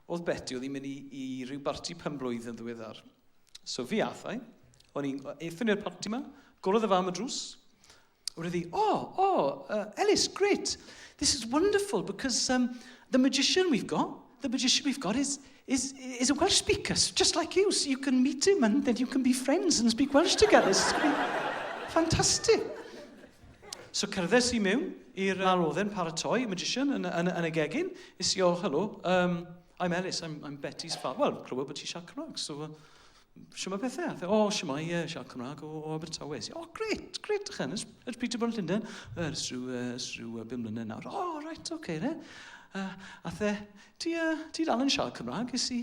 Oedd Beti, oedd hi'n mynd i, i ryw barti pen blwydd yn ddiweddar. So fi ath i, o'n i'n eithon i'r parti yma, gorodd y fam y drws, Wrth i, oh, oh, uh, Ellis, great. This is wonderful because um, the magician we've got, the magician we've got is, is, is a Welsh speaker, just like you. So you can meet him and then you can be friends and speak Welsh together. It's fantastic. So cerddes i mewn i'r... Nawr oedd e'n paratoi, magician, yn, yn, yn y gegin. Is i, oh, hello, um, I'm Ellis, I'm, I'm Betty's father. Wel, clywed bod ti siarad Cymraeg, so... Uh, Siwma bethau? Dde, o, siwma i uh, siarad Cymraeg o, o Abertawe. Si, o, gret, gret, ych enys. Ers pryd ti bod yn Llundain? Ers rhyw, uh, ers rhyw uh, bum mlynedd nawr. O, oh, right, oce, okay, ne. Uh, a the, ti, uh, ti dal yn siarad Cymraeg, is i...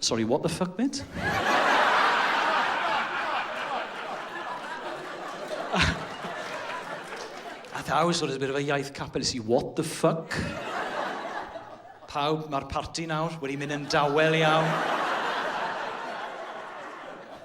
Sorry, what the fuck, mate? a thou sort of bit of a iaith capel i what the fuck? Pawb, mae'r parti nawr wedi mynd yn dawel iawn.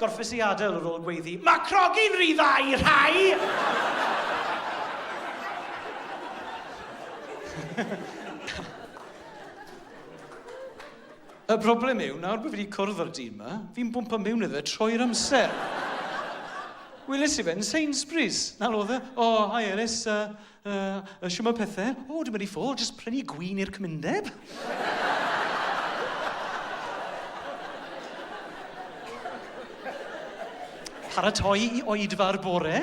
Gorffes i adael yr ôl gweiddi, Mae crogi'n rhy dda i rhai! Y broblem yw, nawr bod fi wedi cwrdd â'r dyn yma, fi'n bwmpa mewn iddo fe troi'r amser. Weles i fe yn Sainsbury's. 'Na fo oedd e. O, hi Elis. Yy Yy, shwmae pethe? O, dwi'n mynd i ffwr, jyst prynu gwin i'r cymundeb. Paratoi i oedfa'r bore.